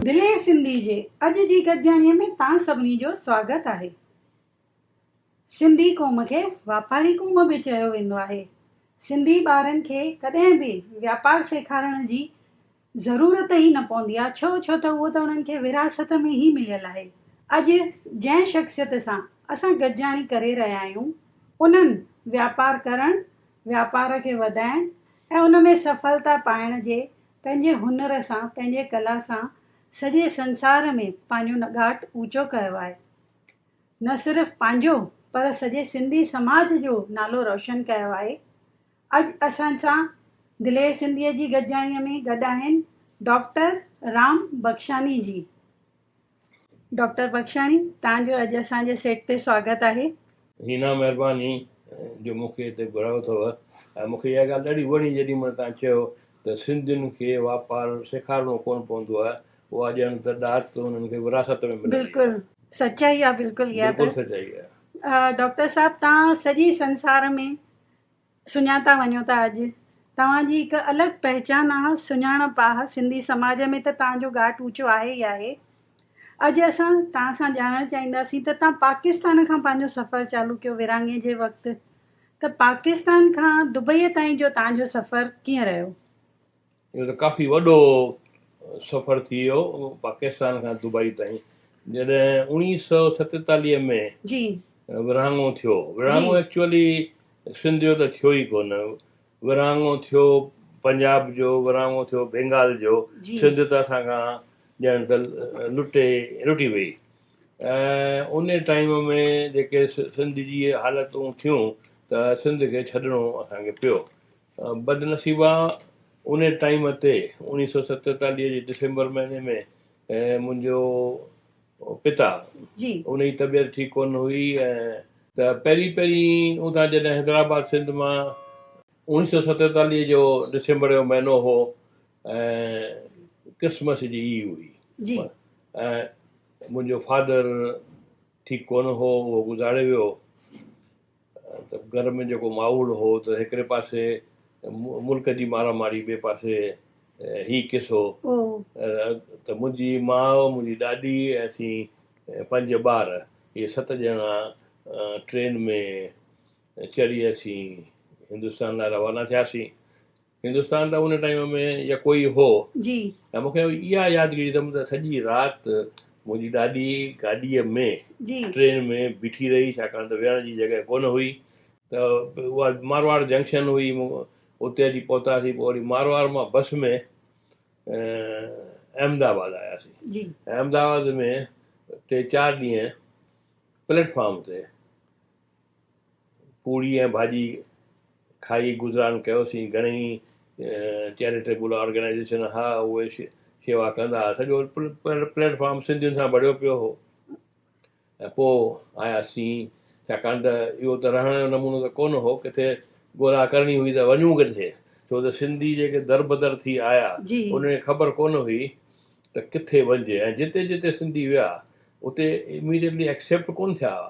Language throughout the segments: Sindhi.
دلير سنڌي جي اڄ جي گڏجاڻيء ۾ توهان سڀني جو سواگت آهي. سنڌي قوم کي واپاري قوم به چيو ويندو آهي. سنڌي ٻارن کي ڪڏهن به واپار سيکارڻ جي ضرورت ئي نه پوندي آهي ڇو ڇو ته اهو ته انهن کي وراثت ۾ ئي مليل آهي اڄ جنهن شخصيت سان اسان گڏجاڻي ڪري رهيا آهيون انهن واپار ڪرڻ واپار کي وڌائڻ ۽ ان ۾ سڦلتا پائڻ جي پنهنجي هنر سان پنهنجي ڪلا سان سڄي سنسار ۾ پنهنجو نگاٽ اوچو ڪيو آهي نه صرف پنهنجو پر سڄي سنڌي سماج جو نالو روشن ڪيو آهي اڄ اسان سان دلير سنڌيء جي گڏجاڻيء ۾ گڏ آهن ڊاڪٽر رام بخشاني جي. ڊاڪٽر بخشاني توهان جو اڄ اسان جي سيٽ تي سواگت آهي. هينا مهرباني جو مون کي هتي گهرايو اٿو ۽ مون کي اها ڳالهه ڏاڍي وڻي جيڏي مهل توهان چيو ته سنڌين کي واپار سيکارڻو ڪونه پوندو آهي اها ڄڻ ته ڏات انهن کي وراثت ۾ ملي وئي آهي. بلڪل سچائي آهي بلڪل اها ته. بلڪل سچائي آهي. ڊاڪٽر صاحب توهان سڄي سنسار ۾ سڃا ٿا وڃو ته اڄ توهان جي هڪ الڳ پهچان آهي سڃاڻپ آهي سنڌي سماج ۾ ته توهان جو ڳاٽ اوچو آهي ئي آهي اڄ اسان توهان سان ڄاڻڻ چاهينداسين ته توهان پاڪستان کان پنهنجو سفر چالو ڪيو ورهاڱي جي وقت ته پاڪستان کان دبئي تائين جو توهان جو سفر ڪيئن رهيو. اهو ته ڪافي وڏو سفر ٿي ويو پاڪستان کان دبئي تائين جڏهن اوڻيهه سؤ ستيتاليهه ۾ جي ورهاڱو ٿيو جي ورهاڱو ايڪچوئلي سنڌ جو ته ٿيو ئي ڪونه ورهاڱو ٿيو پنجاب جو ورهاڱو ٿيو بينگال جو جي سنڌ ته اسان کان ڄڻ ته لٽي لٽي وئي ۽ ان ٽائيم ۾ جيڪي سنڌ جي حالتون ٿيون ته سنڌ کي ڇڏڻو اسان کي پيو بدنصيبا انهي ٽائيم تي اوڻيهه سؤ ستيتاليهه جي ڊسمبر مهيني ۾ منهنجو پتا انهي طبيعت ٺيڪ ڪونه هئي ته پهرين پهرين اوندان جڏهن حيدرآباد سنڌ مان اوڻيهه سؤ ستيتاليهه جو ڊسمبر جو مهينو هو ڪرسمس جي ايو هئي منهنجو فادر ٺيڪ ڪونه هو اهو گذاري ويو ته گهر ۾ جيڪو ماحول هو ته هڪڙي پاسي ملڪ جي مارا ماري ٻئي پاسي هي قصو ته منهنجي ماء منهنجي ڏاڏي ۽ اسين پنج ٻار اهي ست ڄڻا ٽرين ۾ چڙهي اسين هندستان لاء روانا ٿياسين هندستان ته ان ٽائيم ۾ يڪو ئي هو. جي. ۽ مون کي اها يادگيري اٿم ته سڄي رات منهنجي ڏاڏي گاڏيء ۾ جي. ٽرين ۾ بيٺي رهي ڇاڪاڻ ته ويهڻ جي جڳهه ڪونه هئي ته اها مارواڙ جنڪشن هئي مون اتي اچي پهتاسين پوء وري مارواڙ مان بس ۾ احمد آباد آياسين جي. ۽ احمد آباد ۾ ٽي چار ڏينهن پليٽ فارم تي. پوڙهي ۽ ڀاڄي کائي گذران ڪيوسين. گهڻيئي چيريٽيبل آرگنائيزيشن ها اهي شيوا ڪندا ها. سڄو پليٽ فارم سنڌين سان ڀريو پيو هو ۽ پوء آيا سين. ڇاڪاڻ ته اهو ته رهڻ جو نمونو ته ڪونه هو. ڪٿي ڳولا ڪرڻي هئي ته وڃون ڪٿي؟ ڇو ته سنڌي جيڪي دربدر ٿي آيا انهن کي خبر ڪونه هئي ته ڪٿي وڃجي ۽ جتي جتي سنڌي ويا اتي اميڊيٽلي ايڪسيپٽ ڪونه ٿيا ها.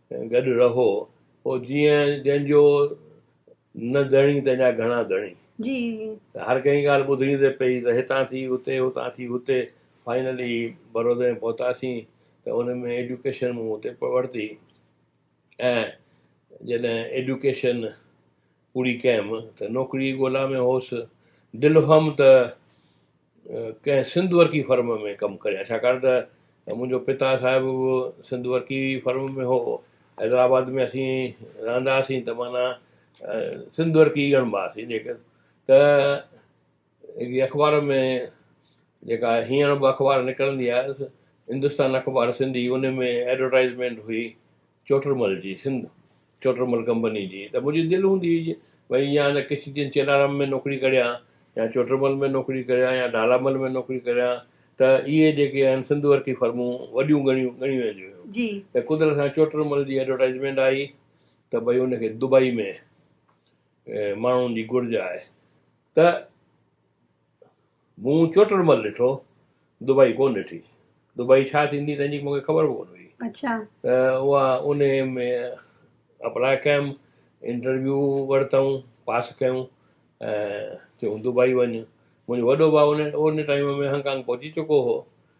گڏ رهو پوء جيئن جنهن جو نه ڌڻي تنهن جا گهڻا ڌڻي ته هر ڪنهن ڳالهه ٻڌڻي ته پئي ته هتان ٿي اتي هتان ٿي هتي فائنلي برودا ۾ پهتاسين ته ان ۾ ايڊيوڪيشن مون اتي ورتي ۽ جڏهن ايڊيوڪيشن پوري ڪيم ته نوڪريء جي ڳولا ۾ هوس. دل هئم ته ڪنهن سنڌ ورقي فرم ۾ ڪم ڪريان، ڇاڪاڻ ته منهنجو پتا صاحب به سنڌ ورقي فرم ۾ هو. حيدرآباد ۾ اسين رهندا هئاسين ته معنيٰ سنڌ ورقي ئي ڳڻباسين. جيڪڏهن ته هڪڙي اخبار ۾ جيڪا هينئر به اخبار نڪرندي آهي هندستان اخبار سنڌي ان ۾ ايڊورٽائيزمينٽ هئي چوٽرمل جي سنڌ چوٽرمل ڪمپني جي ته منهنجي دل هوندي هئي ڀئي يا ته ڪشي جي چيلارام ۾ نوڪري ڪريان يا چوٽرمل ۾ نوڪري ڪريان يا ڍالامل ۾ نوڪري ڪريان ته اهي جيڪي آهن سنڌ ورقي فرمون وڏيون ڳڻيون ڳڻيون وينديون هيون ته قدرت سان چوٽرمل جي ايڊورٽائيزمينٽ آئي ته ڀئي ان کي دبئي ۾ ماڻهن جي گهرج آهي ته مون چوٽر مل ڏٺو دبئي ڪون ڏٺي دبئي ڇا ٿيندي تنهنجي مون کي خبر به ڪون هئي اچا ته اها ان ۾ اپلاء ڪيم انٽرويو ورتائون پاس ڪيون ۽ چيون دبئي وڃ منهنجو وڏو ڀاء ان ان ٽائيم ۾ هانگ ڪانگ پهچي چڪو هو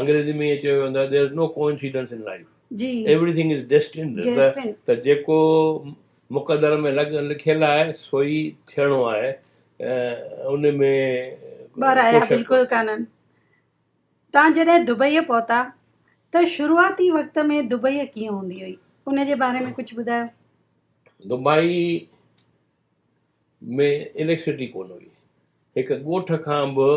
انگريزي ۾ ائين چيو ويندو آهي There is no coincidence in life. Everything is destined. ته جيڪو مقدر ۾ لکيل آهي سو ئي ٿيڻو آهي ان ۾ ٻه رايا بلڪل ڪانهن. توهان جڏهن دبئيء پهتا ته شروعاتي وقت ۾ دبئي ڪيئن هوندي هئي ان جي باري ۾ ڪجهه ٻڌايو. دبئي. ۾ اليڪسٽرسٽي ڪونه هئي، هڪ ڳوٺ کان به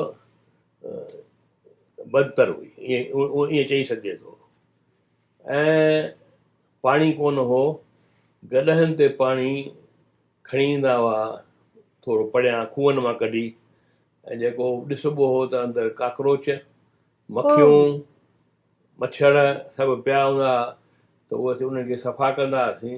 بدتر هئي، ائين چئي سگهجي ٿو. ۽ پاڻي ڪونه هو، گڏهن تي پاڻي کڻي ايندا هئا، ٿورو پريان کوهن مان ڪڍي، ۽ جيڪو ڏسبو هو ته اندر ڪاڪروچ، مکيون، مڇر سڀ پيا هوندا هئا ته اهي اسين انهن کي صفا ڪندا هئاسين.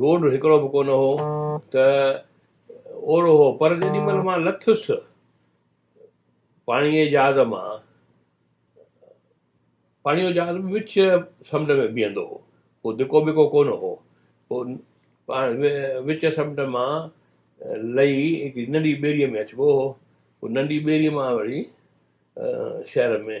روڊ هڪڙو به ڪونه هو ته اورو هو پر جيڏي مهل مان لٿس پاڻيء جي جهاز مان پاڻيء جو جهاز به وچ سمنڊ ۾ بيهندو هو ڪو ڌڪو بڪو ڪونه هو پوء وچ سمنڊ مان لهي هڪڙي ننڍي ٻيڙيء ۾ اچبو هو پوء ننڍي ٻيڙيء مان وري شهر ۾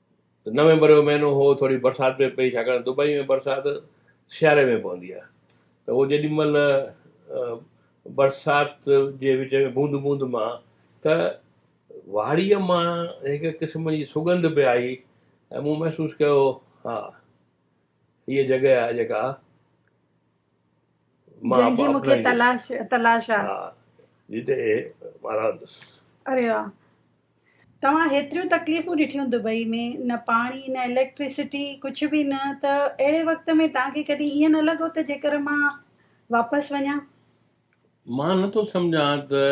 نومبر جو مهينو هو، ٿوري برسات به پئي، ڇاڪاڻ دبئي ۾ برسات سياري ۾ پوندي آهي ته اهو جيڏي مهل برسات جي وچ ۾ بوند بوند مان ته واڙيء مان هڪ قسم جي سڳنڌ به آئي ۽ مون محسوس ڪيو ها هيء جڳهه آهي جيڪا جنهن جي مون کي تلاش تلاش آ. جي تي مارادس. اري واھ توهان هيتريون تڪليفون ڏٺيون دبئي ۾ نه پاڻي نه اليڪٽريسٽي ڪجھ به نه ته اهڙي وقت ۾ توهان کي ڪڏهن ائين نه لڳو ته جيڪر مان واپس وڃان. مان نه ٿو سمجهان ته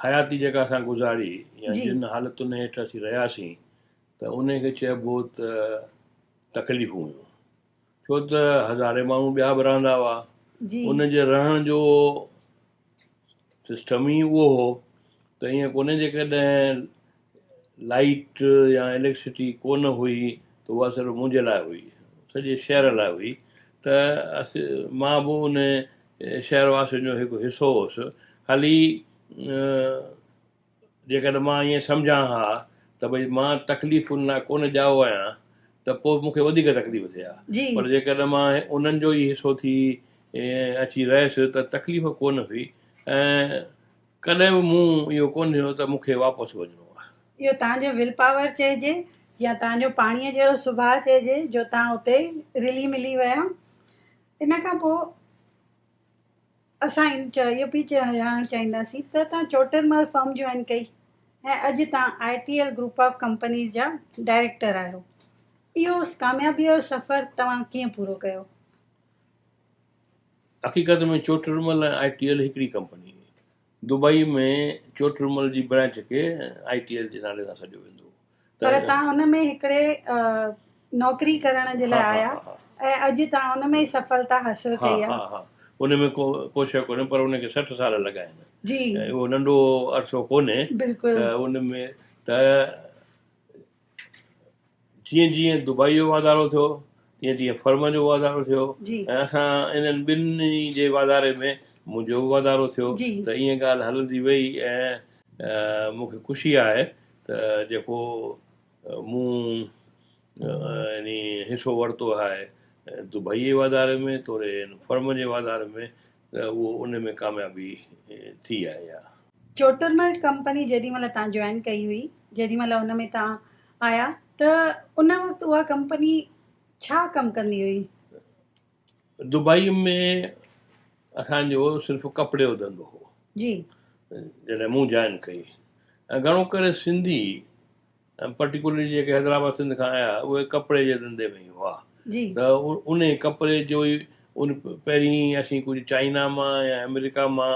حياتي جيڪا اسان گذاري يا جن حالتن هيٺ اسين رهياسين ته انهي کي چئبو ته تڪليفون هيون. ڇو ته هزارين ماڻهو ٻيا به رهندا هئا. ان جي رهڻ جو سسٽم ئي اهو هو ته ائين ڪونهي جيڪڏهن لائيٽ يا اليڪسٽري ڪونه هئي ته اها صرف منهنجي لاء هئي سڄي شهر لاء هئي ته مان به ان شهر واسين جو هڪ حصو هوس خالي جيڪڏهن مان ائين سمجهان ها ته ڀئي مان تڪليفن لاء ڪونه ڄائو آهيان ته پوء مون کي وڌيڪ تڪليف ٿئي ها پر جيڪڏهن مان انهن جو ئي حصو ٿي اچي رهيس ته تڪليف ڪونه هئي ۽ ڪڏهن به مون اهو ڪونه ڏٺو ته مون کي واپس وڃڻو آهي. اهو توهان جو ول پاور چئجي يا توهان جو پاڻيء جهڙو سڀاء چئجي جو توهان اتي رلي ملي ويا ان کان پوء. اسان ان چاء اهو به ڄاڻڻ چاهينداسين ته توهان چوٽيل مال فرم جوائن ڪئي ۽ اڄ توهان I T L group of companies جا ڊائريڪٽر آهيو اهو ڪاميابي جو سفر توهان ڪيئن پورو ڪيو؟ حقيقت ۾ چوٽيل مال ۽ آء ٽي ايل هڪڙي ڪمپني هئي. دبئي ۾ چوٽيل مال جي برانچ کي آء ٽي ايل جي نالي سان سڏيو ويندو هو. پر تان ان ۾ هڪڙي نوڪري ڪرڻ جي لاء آيا ۽ اڄ تان ان ۾ ئي سڦلتا حاصل ڪئي آهي. ها ها ها ان ۾ ڪو ڪو شيء ڪونهي پر ان کي سٺ سال لڳا آهن جي اهو ننڍو عرصو ڪونهي بلڪل ته ان ۾ ته جيئن جيئن دبئي جو واڌارو ٿيو تيئن تيئن فرم جو واڌارو ٿيو جي ۽ اسان انهن ٻنهي جي واڌاري ۾ منهنجو به واڌارو ٿيو جي ته ائين ڳالهه هلندي وئي ۽ مون کي خوشي آهي ته جيڪو مون يعني حصو ورتو آهي دبئيء جي واڌاري ۾ توڙي هن فرم جي واڌاري ۾ ته اهو ان ۾ ڪاميابي ٿي آهي يا. چوٽرمل ڪمپني جيڏي مهل تان جوائن ڪئي هئي، جيڏي مهل ان ۾ تان آيا ته ان وقت اها ڪمپني ڇا ڪم ڪندي هئي؟ دبئي ۾ اسان جو صرف ڪپڙي جو ڌنڌو هو جي جڏهن مون جوائن ڪئي ۽ گهڻو ڪري سنڌي پرٽيڪولرلي جيڪي حيدرآباد سنڌ کان آيا اهي ڪپڙي جي ڌنڌي ۾ ئي هئا جي ته انهي ڪپڙي جو ئي ان پهرين اسين ڪجهه چائنا مان يا آمريڪا مان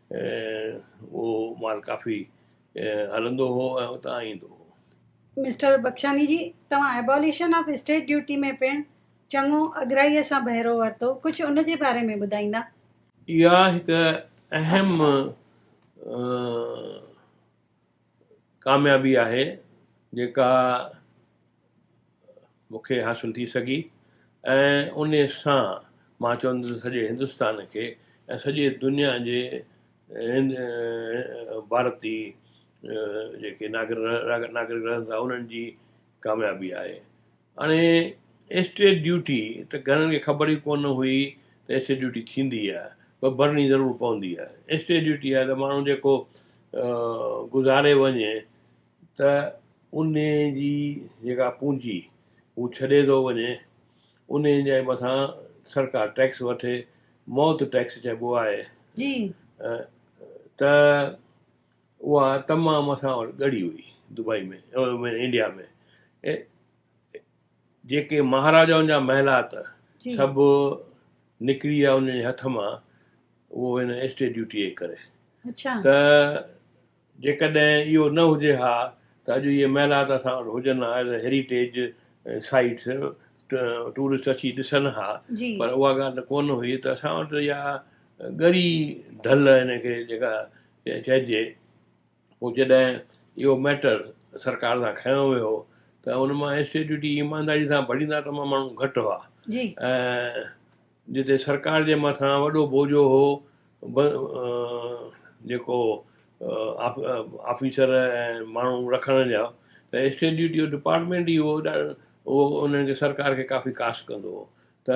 اهو مال ڪافي هلندو هو ۽ اتان ايندو هو. مسٽر بخشاني جي، توهان اباليشن آف اسٽيٽ ڊيوٽي ۾ پڻ چڱو اڳرائيء سان بهرو ورتو، ڪجهه ان جي باري ۾ ٻڌائيندا؟ اها هڪ اهم ڪاميابي آهي جيڪا مون کي حاصل ٿي سگهي ۽ ان سان مان چوندس سڄي هندستان کي ۽ سڄي دنيا جي ڀارتي جيڪي ناگرڪ رهن ٿا انهن جي ڪاميابي آهي هاڻي ايسٽريٽ ڊيوٽي ته گهڻن کي خبر ئي ڪونه هئي ته ايسٽريٽ ڊيوٽي ٿيندي آهي پر ڀرڻي ضرور پوندي آهي ايسٽريٽ ڊيوٽي آهي ته ماڻهو جيڪو گذاري وڃي ته ان جي جيڪا پونجي هو ڇڏي ٿو وڃي ان جي مٿان سرڪار ٽيڪس وٺي موت ٽيڪس چئبو آهي جي ته اها تمام اسان وٽ ڳڙي هئي دبئي ۾ انڊيا ۾ جيڪي مهاراجائن جا محلات سڀ نڪري ويا ان جي هٿ مان اهو هن اسٽي ڊيوٽي جي ڪري ته جيڪڏهن اهو نه هجي ها ته اڄ اهي محلات اسان وٽ هجن ها as a heritage sites tourist اچي ڏسن ها پر اها ڳالهه ته ڪونه هئي ته اسان وٽ اها ڳڙي ڍل هن کي جيڪا ائين چئجي پوء جڏهن اهو ميٽر سرڪار سان کنيو ويو ته ان مان اسٽيج ڊيوٽي ايمانداري سان ڀريندا ته امان ماڻهو گهٽ هئا ۽ جتي سرڪار جي مٿان وڏو بوجو هو جيڪو آفيسر ۽ ماڻهو رکڻ جا ته اسٽيج ڊيوٽي جو ڊپارٽمينٽ ئي اهو انهن کي سرڪار کي ڪافي ڪاسٽ ڪندو هو ته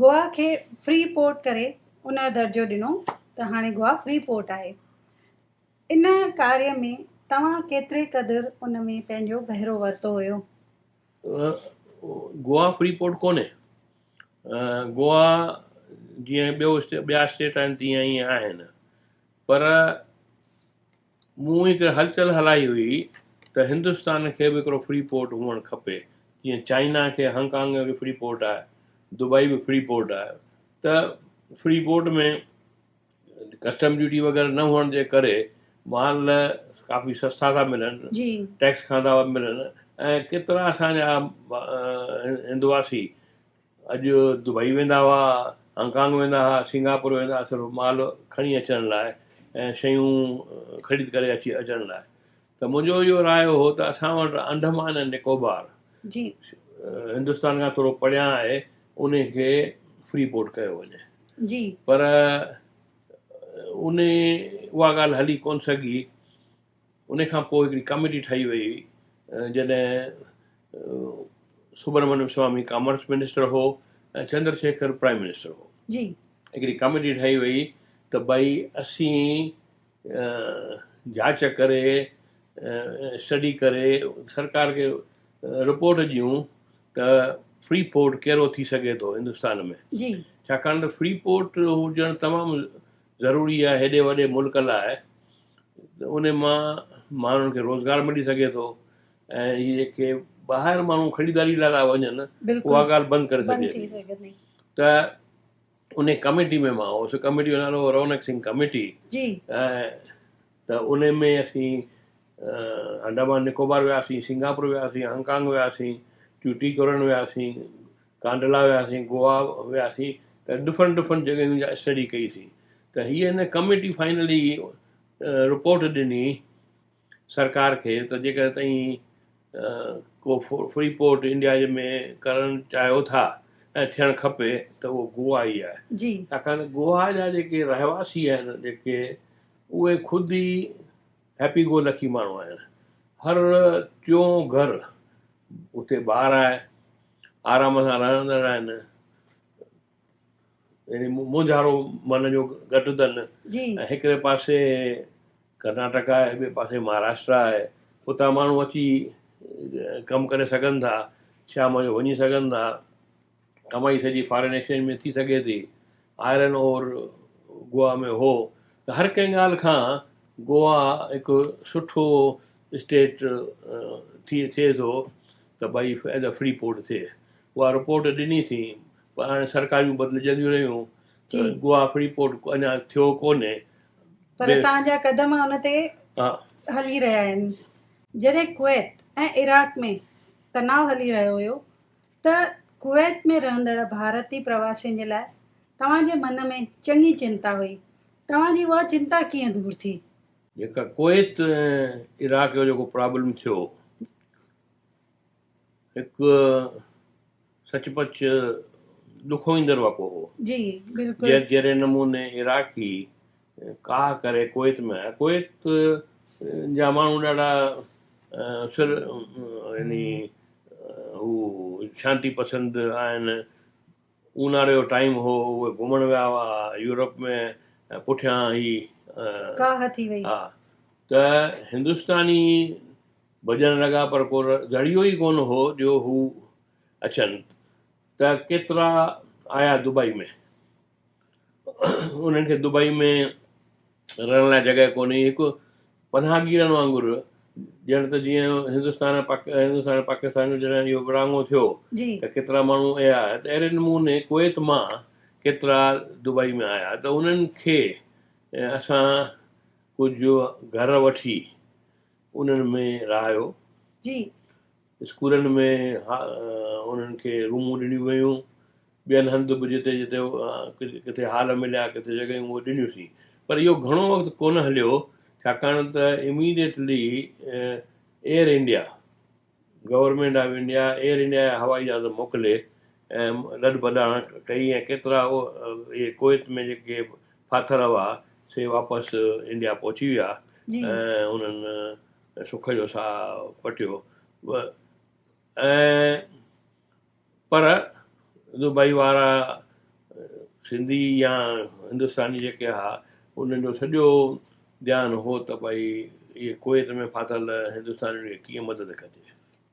گوا کي فري پورٽ ڪري ان جو درجو ڏنو ته هاڻي گوا فري پورٽ آهي. ان ڪاريه ۾ توهان ڪيتري قدر ان ۾ پنهنجو بهرو ورتو هيو؟ گوا فري پورٽ ڪونهي. گوا جيئن ٻيو ٻيا اسٽيٽ آهن تيئن ئي آهن پر مون هڪ هلچل هلائي هئي ته هندستان کي به هڪڙو فري پورٽ هئڻ کپي، جيئن چائنا کي هانگ ڪانگ ۾ به فري پورٽ آهي، دبئي به فري پورٽ آهي ته فري پورٽ ۾ ڪسٽم ڊيوٽي وغيره نه هئڻ جي ڪري مال ڪافي سستا ٿا ملن، ٽيڪس کانڌا ملن ۽ ڪيترا اسان جا هندواسي اڄ دبئي ويندا هئا، هانگ ڪانگ ويندا هئا، سنگاپور ويندا هئا صرف مال کڻي اچڻ لاء ۽ شيون خريد ڪري اچي اچڻ لاء ته منهنجو اهو رايو هو ته اسان وٽ انڊمان ۽ نڪوبار جي هندستان کان ٿورو پريان آهي ان کي فري پورٽ ڪيو وڃي جي پر ان اها ڳالهه هلي ڪونه سگهي ان کان پوء هڪڙي ڪاميٽي ٺاهي وئي هئي جڏهن سبرامنيم سوامي ڪامرس منسٽر هو ۽ چندر شيکر پرائيم منسٽر هو هڪڙي ڪاميٽي ٺاهي وئي ته ڀائي اسين جاچ ڪري اسٽڊي ڪري سرڪار کي رپورٽ ڏيون ته فري پورٽ ڪهڙو ٿي سگهي ٿو هندستان ۾ ڇاڪاڻ ته فري پورٽ هجڻ تمام ضروري آهي هيڏي وڏي ملڪ لاء ان مان ماڻهن کي روزگار ملي سگهي ٿو ۽ هي جيڪي ٻاهر ماڻهو خريداري لاء ٿا وڃن اها ڳالهه بند ڪري سگهجي ٿي ته ان ڪميٽي ۾ مان هوس ڪميٽي جو نالو رونق سنگهه ڪميٽي ته ان ۾ اسين انڊامان نڪوبار وياسين سنگاپور وياسين هانگ ڪانگ وياسين ٽيوٽي ڪرن وياسين ڪانڊلا وياسين، گوا وياسين ته ڊفرنٽ ڊفرنٽ جڳهيون جا اسٽڊي ڪئيسين ته هيء هن ڪميٽي فائنلي رپورٽ ڏني سرڪار کي ته جيڪڏهن تئين ڪو فري پورٽ انڊيا جي ۾ ڪرڻ چاهيو ٿا ۽ ٿيڻ کپي ته اهو گوا ئي آهي ڇاڪاڻ ته گوا جا جيڪي رهواسي آهن جيڪي اهي خود ئي هيپي گو لڪي ماڻهو آهن هر ٽيون گهر اتي ٻار آهي آرام سان رهندڙ آهن، يعني مونجهارو من جو گهٽ اٿن ۽ هڪڙي پاسي ڪرناٽڪ آهي ٻئي پاسي مهاراشٽرا آهي اتان ماڻهو اچي ڪم ڪري سگهن ٿا شام جو وڃي سگهن ٿا ڪمائي سڄي فارين ايڪسچينج ۾ ٿي سگهي ٿي آئرن اور گوا ۾ هو ته هر ڪنهن ڳالهه کان گوا هڪ سٺو اسٽيٽ ٿي ٿئي ٿو ته ڀئي ادا فري پورٽ ٿئي اها رپورٽ ڏني ٿين پر هاڻي سرڪاريون بدلجنديون رهيون ته گوا فري پورٽ اڃا ٿيو ڪونهي پر اتان جا قدم ان تي هلي رهيا آهن جڏهن ڪويت ۽ عراق ۾ تناء هلي رهيو هيو ته ڪويت ۾ رهندڙ ڀارتي پرواسين جي لاء توهان جي من ۾ چڱي چنتا هئي توهان جي اها چنتا ڪيئن دور ٿي؟ جيڪا ڪويت ۽ عراق جو جيڪو پرابلم ٿيو هڪ سچ پچ ڏکوئيندڙ واقعو هو جي بلڪل جهڙي نموني عراقي ڪاهه ڪري ڪويت ۾ آيا ڪويت جا ماڻهو ڏاڍا سر يعني هو شانتي پسند آهن اونهاري جو ٽائيم هو اهي گهمڻ ويا هئا يورپ ۾ ۽ پٺيان هي ڪاهه ٿي وئي. ها ته هندستاني ڀڄڻ لڳا پر ڪو ذريعو ئي ڪونه هو جو هو اچن ته ڪيترا آيا دبئي ۾ انهن کي دبئي ۾ رهڻ لاء جڳهه ڪونهي، هڪ پناهگيرن وانگر، ڄڻ ته جيئن هندستان ۽ هندستان ۽ پاڪستان جو جڏهن اهو ورهاڱو ٿيو ته ڪيترا ماڻهو اها ته اهڙي نموني ڪويت مان ڪيترا دبئي ۾ آيا ته انهن کي اسان ڪجهه گهر وٺي انهن ۾ رهايو. اسڪولن ۾ انهن کي رومون ڏنيون ويون، ٻين هنڌ به جتي جتي ڪٿي هال مليا، ڪٿي جڳهيون اهي ڏنيون سين. پر اهو گهڻو وقت ڪونه هليو، ڇاڪاڻ ته immediately Air India, government of India, Air India جا هوائي جهاز موڪلي ۽ لڏ ڀڏاڻ ڪئي ۽ ڪيترا اهي ڪويت ۾ جيڪي ڦاٿل هئا، سي واپس انڊيا پهچي ويا ۽ انهن سک جو ساهه پٽيو و ۽ پر دبئي وارا سنڌي يا هندستاني جيڪي ها انهن جو سڄو ڌيان هو ته ڀئي اهي ڪويت ۾ ڦاٿل هندستانين کي ڪيئن مدد ڪجي.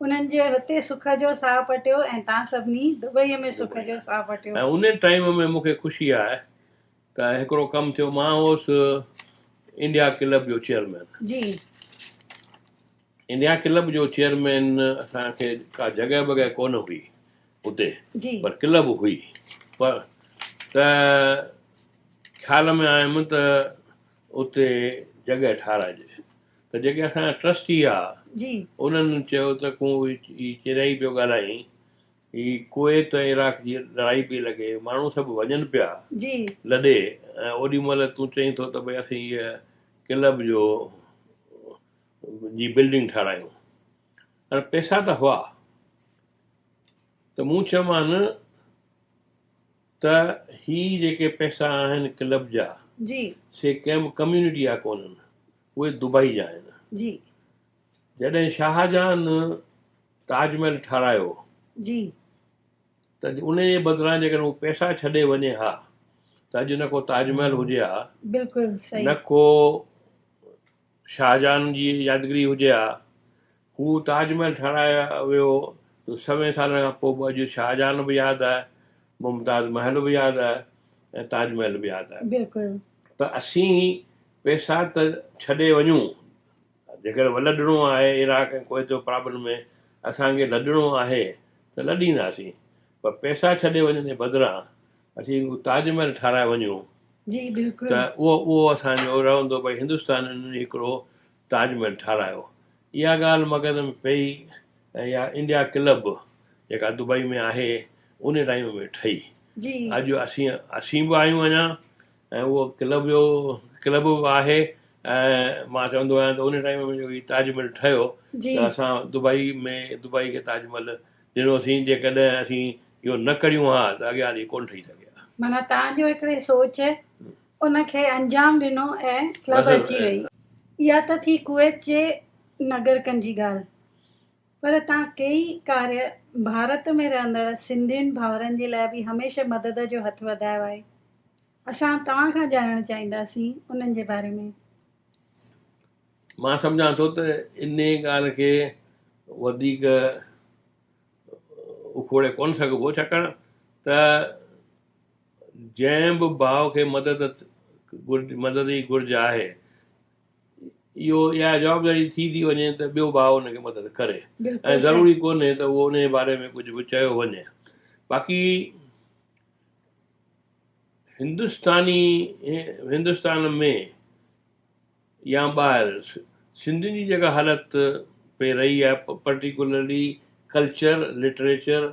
انهن جي هتي سک جو ساهه پٽيو ۽ تان سڀني دبئي ۾ سک جو ساهه پٽيو. ۽ انهي ٽائيم ۾ مون کي خوشي آهي ته هڪڙو ڪم ٿيو مان هوس انڊيا ڪلب جو چيئرمين جي انڊيا ڪلب جو چيئرمين اسان کي ڪا جڳهه بڳهه ڪونه هئي اتي جي پر ڪلب هئي پر ته خيال ۾ آيم ته اتي جڳهه ٺاراهجي ته جيڪي اسان جا ٽرسٽي هئا جي انهن چيو ته ڪون هي چريائي پيو ڳالهائين هي ڪويت ۽ عراق جي لڙائي پئي لڳي، ماڻهو سڀ وڃن پيا لڏي ۽ اوڏي مهل تون چئين ٿو ته ڀئي اسين هيء ڪلب جو جي بلڊنگ ٺاراهيون ۽ پئسا ته هئا ته مون چيومان ته هي جيڪي پئسا آهن ڪلب جا سي ڪنهن به ڪميونٽي جا ڪونهن اهي دبئي جا آهن. جڏهن شاهجهان تاج محل ٺاهرايو جي ته انهي جي بدران جيڪڏهن هو پئسا ڇڏي وڃي ها ته اڄ نه ڪو تاج محل هجي ها بلڪل صحيح نه ڪو شاهجهان جي يادگري هجي ها هو تاج محل ٺاهرايو ويو ته سوين سالن کان پوء به اڄ شاهجهان به ياد آهي ممتاز محل به ياد آهي ۽ تاج محل به ياد آهي بلڪل ته اسين پئسا ته ڇڏي وڃون جيڪڏهن ولڏڻو آهي عراق ۽ ڪويت جو پرابلم ۾ اسان کي لڏڻو آهي ته لڏينداسين پر پئسا ڇڏي وڃڻ جي بدران اسين تاج محل ٺهرائي وڃون ته اهو اسان جو رهندو ڀئي هندستانين هڪڙو تاج محل ٺهرايو اها ڳالهه مغز ۾ پئي ۽ اها انڊيا ڪلب جيڪا دبئي ۾ آهي ان ٽائيم ۾ ٺهي اڄ اسين به آهيون اڃا ۽ اهو ڪلب جو ڪلب به آهي ۽ مان چوندو آهيان ته ان ٽائيم ۾ جو هي تاج محل ٺهيو جي. ته اسان دبئي ۾ دبئي کي تاج محل ڏنو سين جيڪڏهن اسين اهو نه ڪريون ها ته اڳيان هلي ڪونه ٺهي سگهي ها. معنيٰ توهان جو هڪڙي سوچ ان کي انجام ڏنو ۽ ڪلب اچي وئي. اها ته ٿي ڪويت جي نگرڪن جي ڳالهه پر تان ڪيئي ڪاريه ڀارت ۾ رهندڙ سنڌين ڀائرن جي لاء به هميشه مدد جو هٿ وڌايو آهي اسان توهان کان ڄاڻڻ چاهينداسين انهن جي باري ۾. مان سمجهان ٿو ته انهي ڳالهه کي وڌيڪ اکوڙي ڪونه سگهبو ڇاڪاڻ ته جنهن به ڀاء کي مدد مدد جي گهرج آهي اهو اها جوابداري ٿي ٿي وڃي ته ٻيو ڀاء ان کي مدد ڪري ۽ ضروري ڪونهي ته اهو انهيء باري ۾ ڪجهه به چيو وڃي باقي هندستاني هندستان ۾ يا ٻاهر سنڌين جي جيڪا حالت پئي رهي آهي پرٽيڪولرلي ڪلچر لٽريچر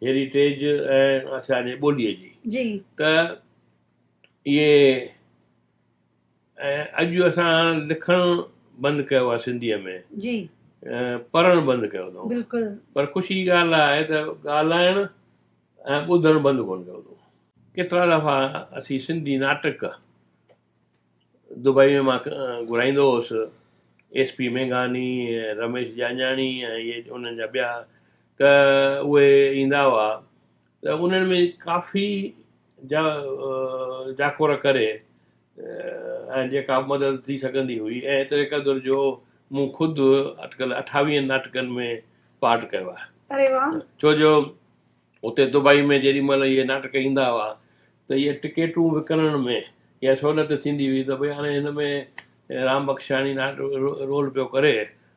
هيريٽيج ۽ اسان جي ٻوليء جي ته اهي ۽ اڄ اسان لکڻ بند ڪيو آهي سنڌيء ۾ جي پڙهڻ بند ڪيو اٿئون بلڪل پر خوشي جي ڳالهه اها آهي ته ڳالهائڻ ۽ ٻڌڻ بند ڪونه ڪيو اٿئون ڪيترا دفعا اسين سنڌي ناٽڪ دبئي ۾ مان گهرائيندو هوس ايس پي مينگهاني رميش جاڃاڻي ۽ انهن جا ٻيا ته اهي ايندا هئا ته انهن ۾ ڪافي جا جاکوڙ ڪري ۽ جيڪا مدد ٿي سگهندي هئي ۽ ايتري قدر جو مون خود اٽڪل اٺاويهن ناٽڪن ۾ پارٽ ڪيو آهي. اري واه. ڇو جو اتي دبئي ۾ جيڏي مهل اهي ناٽڪ ايندا هئا ته اهي ٽڪيٽون وڪڻڻ ۾ اها سهولت ٿيندي هئي ته ڀئي هاڻي هن ۾ رام بخشاڻي رول پيو ڪري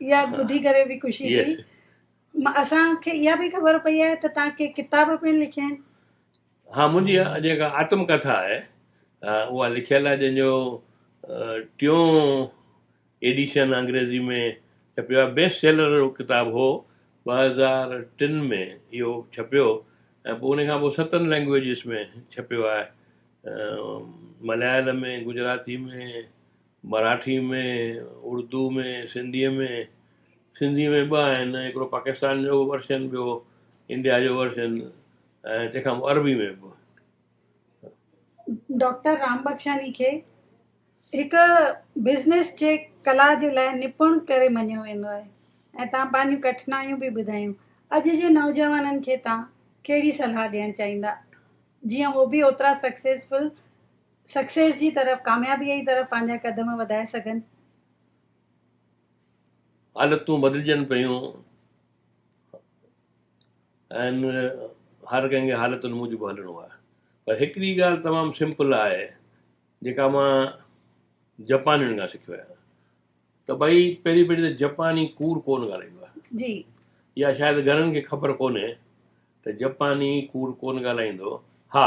اها ٻڌي ڪري به خوشي ٿي اسان کي اها به خبر پئي آهي ته توهان ڪي ڪتاب پڻ لکيا آهن ها منهنجي جيڪا آتم ڪٿا آهي اها لکيل آهي جنهن جو ٽيون ايڊيشن انگريزي ۾ ڇپيو آهي بيسٽ سيلر جو ڪتاب هو ٻه هزار ٽن ۾ اهو ڇپيو ۽ پوء ان کان پوء ستن لينگويجز ۾ ڇپيو آهي مليالم ۾ گجراتي ۾ مراٺي ۾ اردو ۾ سنڌي ۾ سنڌي ۾ ٻه آهن هڪڙو پاڪستان جو ورشن ٻيو انڊيا جو ورشن ۽ تنهن کان پوء عربي ۾ به. ڊاڪٽر رامبخشاني کي هڪ بزنس جي ڪلا جي لاء نپڻ ڪري مڃيو ويندو آهي ۽ تان پنهنجون ڪٺنايون به ٻڌايون اڄ جي نوجوانن کي تان ڪهڙي صلاح ڏيڻ چاهيندا جيئن هو به اوترا سڪسيسفل سڪسيس جي طرف، ڪاميابيء جي طرف پنهنجا قدم وڌائي سگهن. حالتون بدلجن پيون ۽ هر ڪنهن کي حالتن موجب هلڻو آهي پر هڪڙي ڳالهه تمام سمپل آهي جيڪا مان جپانين کان سکيو آهيان ته ڀئي پهرين پهرين ته جپاني ڪوڙ ڪونه ڳالهائيندو آهي جي يا شايد گهڻن کي خبر ڪونهي ته جپاني ڪوڙ ڪونه ڳالهائيندو ها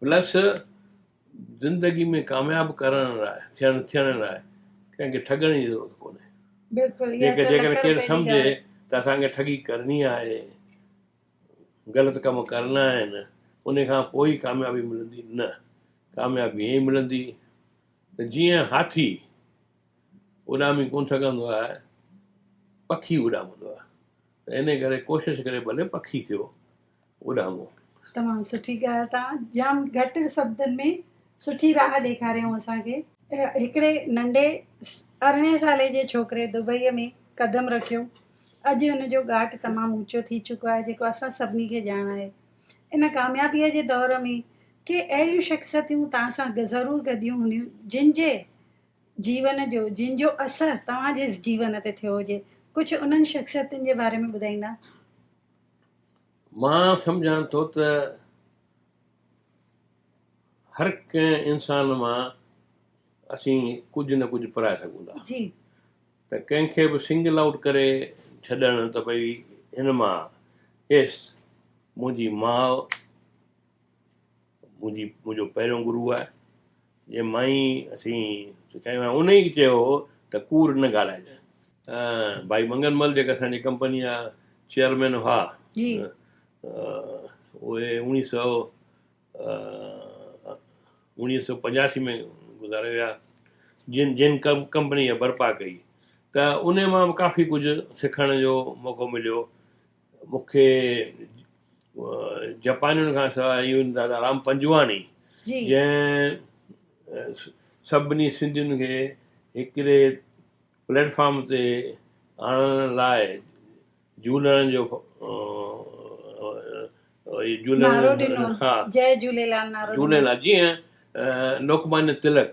پلس زندگي ۾ ڪامياب ڪرڻ لاء ٿيڻ ٿيڻ لاء ڪنهن کي ٺڳڻ جي ضرورت ڪونهي بلڪل اها ته جيڪڏهن لک ڪير روپين جي سمجهي ڳالهه ته اسان کي ٺڳي ڪرڻي آهي غلط ڪم ڪرڻا آهن ان کان پوء ئي ڪاميابي ملندي نه ڪاميابي ائين ملندي ته جيئن هاٿي اڏامي ڪونه سگهندو آهي پکي اڏامندو آهي ته ان ڪري ڪوشش ڪري ڀلي پکي ٿيو اڏامو. تمام سٺي ڳالهه تان جام گهٽ سبدن ۾ سٺي راهه ڏيکاريائون اسان کي. هڪڙي ننڍي ارڙهن سالي جي ڇوڪري دبئي ۾ قدم رکيو اڄ ان جو ڳاٽ تمام اوچو ٿي چڪو آهي جيڪو اسان سڀني کي ڄاڻ آهي ان ڪاميابي جي دور ۾ ڪي اهڙيون شخصيتيون توهان سان ضرور گڏيون هونديون جن جي جيون جو جن جو اثر توهان جي جيون تي ٿيو هجي ڪجهه انهن شخصيتن جي باري ۾ ٻڌائيندا. مان سمجهان ٿو ته هر ڪنهن انسان مان اسين ڪجهه نه ڪجهه پرائي سگهون ٿا جي ته ڪنهن کي به سنگل آئوٽ ڪري ڇڏڻ ته ڀئي هن مان ايس منهنجي ماء منهنجي منهنجو پهريون گرو آهي جنهن مان ئي اسين سکايو ۽ ان ئي چيو هو ته ڪوڙ نه ڳالهائجي. ڀائي منگن مل جيڪي اسان جي ڪمپني جا چيئرمين هئا اهي اوڻيهه سؤ اوڻيهه سؤ پنجاسي ۾ گذاري ويا جن جن ڪمپني اها برپا ڪئي ته ان مان به ڪافي ڪجهه سکڻ جو موقعو مليو. مون کي جپانين کان سواء ايون دادا رام پنجواڻي جنهن سڀني سنڌين کي هڪڙي پليٽ فارم تي آڻڻ لاء جهولڻ جو نعرو ڏنو جي جهوليلال نعرو ڏنو جي لوڪمانيا تلڪ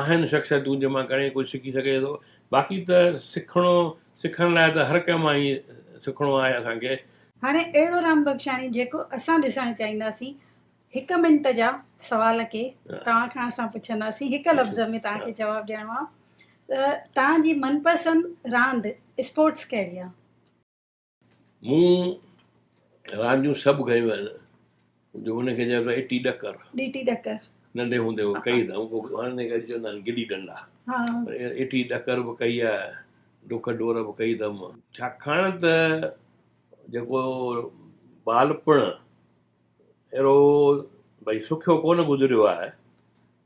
آهن شخصيتون جن مان گهڻي ڪجهه سکي سگهجي ٿو باقي ته سکڻو سکڻ لاء ته هر ڪنهن مان ئي سکڻو آهي اسان کي. هاڻي اهڙو رام بخشاڻي جيڪو اسان ڏسڻ چاهينداسين هڪ منٽ جا سوال ڪي توهان کان اسان پڇنداسين هڪ لفظ ۾ توهان کي جواب ڏيڻو آهي ته توهان جي من پسند راند اسپورٽس ڪهڙي آهي؟ مون رانديون سڀ گهيون آهن. جو هن کي چئبو آهي ٽي ڏڪر. ڏيٽي ڏڪر. ننڍي هوندي هو ڪئي اٿم. پوء هن کي اڄ چوندا آهن گلي ڏنڊا. ها. ڏيٽي ڏڪر به ڪئي آهي. ڊک ڊور به ڪئي اٿم. ڇاڪاڻ ته جيڪو ٻالپڻ اهڙو ڀئي سکيو ڪونه گذريو آهي.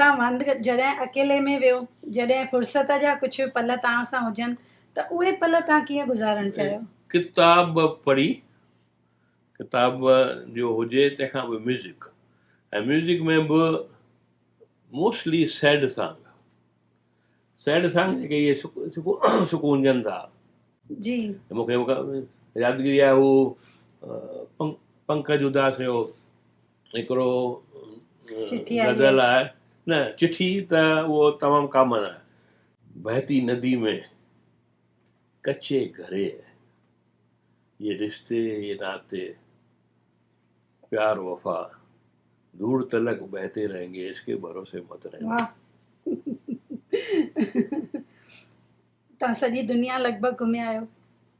تان وند جڏهن اڪيلي ۾ ويهو، جڏهن فرصت جا ڪجهه پل تان سان هجن ته اهي پل تان ڪيئن گذارڻ چاهيو؟ ڪتاب پڙهي، ڪتاب جو هجي تنهن کان پوء ميوزڪ ۽ ميوزڪ ۾ به موسٽلي سيڊ سانگ. سينڊ سان جيڪي اهي سڪونجن ٿا جي مون کي يادگيري آهي هو پنڪج اداس جو هڪڙو غزل آهي نه چٺي ته اهو تمام ڪامن آهي بهتي ندي ۾ ڪچي گهري يي رشتي يي ناتي پيار وفا دور تلڪ بهتي رهينگي عشق ڪي ڀروسي مت رهينگي. واھ تان سڄي دنيا لڳ ڀڳ گهميا آهيو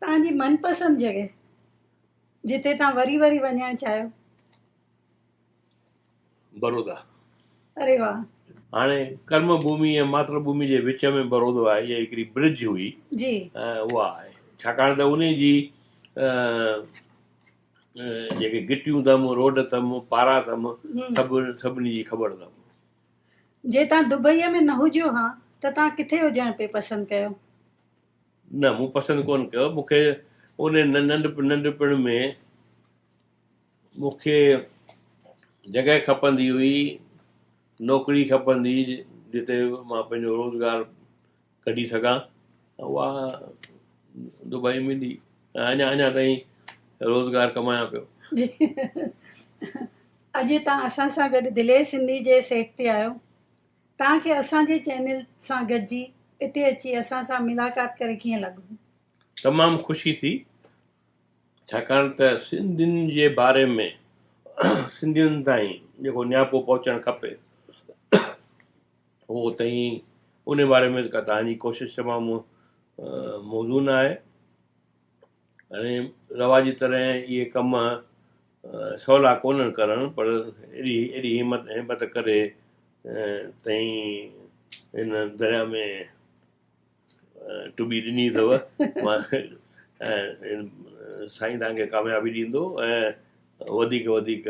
تان جي من پسند جڳهه جتي تان وري وري وڃڻ چاهيو. برودا. اري واھ. هاڻي ڪرم ڀومي ۽ ماتر ڀومي جي وچ ۾ برودو آهي يا هڪڙي برج هئي جي اها آهي ڇاڪاڻ ته انهي جي جيڪي گٽيون اٿم، روڊ اٿم، پارا اٿم، سڀ سڀني جي خبر اٿم. جي توهان دبئيء ۾ نه هجيو ها ته توهان ڪٿي هجڻ پئي پسند ڪيو؟ نه، مون پسند ڪونه ڪيو. مون کي اونهي ننڍپڻ ۾ مون کي جڳهه کپندي هئي، نوڪري کپندي هئي، جتي مان پنهنجو روزگار ڪڍي سگهان ته اها دبئي ۾ ڏي ۽ اڃا اڃا تائين روزگار ڪمايان پيو. جي اڄ تان اسان سان گڏ دلير سنڌي جي سيٽ تي آهيو تان کي اسان جي چينل سان گڏجي اتي اچي اسان سان ملاقات ڪري ڪيئن لڳو. تمام خوشي ٿي ڇاڪاڻ ته سنڌين جي باري ۾ سنڌين تائين جيڪو نياپو پهچڻ کپي. هو اتي ئي ان باري ۾ ڪا توهان جي ڪوشش تمام موزون آهي ۽ رواجي طرح اهي ڪم سولا ڪونهن ڪرڻ پر ايڏي ايڏي همت هيبت ڪري تئين هن درياء ۾ ٽٻي ڏني اٿو مان سائين توهان کي ڪاميابي ڏيندو ۽ وڌيڪ وڌيڪ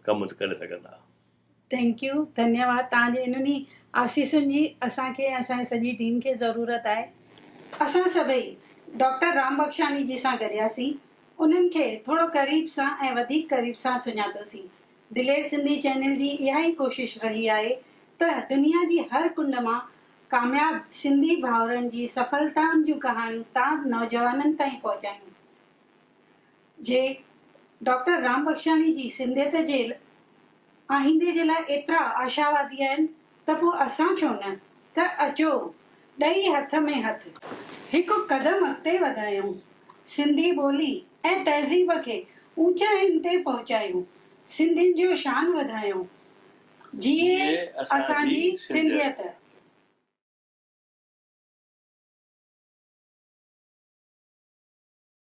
ڪم ڪري سگهندا. ٿينڪ يو ڌنيواد توهان جي انهن ئي آسيسن جي اسان کي ۽ اسان جي سڄي ٽيم کي ضرورت آهي. اسان سڀئي ڊاڪٽر رام بخشاني جي سان گڏياسين انهن کي ٿورو قريب سان ۽ وڌيڪ قريب سان سڃاتوسين دلير سنڌي چينل جي اها ئي ڪوشش رهي آهي ته دنيا جي هر ڪنڊ مان ڪامياب سنڌي ڀائرن جي سڦلتائن جون ڪهاڻيون تان نوجوانن تائين پهچايون. جي ڊاڪٽر رام بخشاڻي جي سنڌيت جي آئيندي جي لاء ايترا آشاوادي آهن ته پوء اسان ڇو نه ته اچو ڏئي هٿ ۾ هٿ هڪ قدم اڳتي وڌايون، سنڌي ٻولي ۽ تهذيب کي اوچائين تي پهچايون، سنڌين جو شان وڌايون، جيئي اسان جي سنڌيت.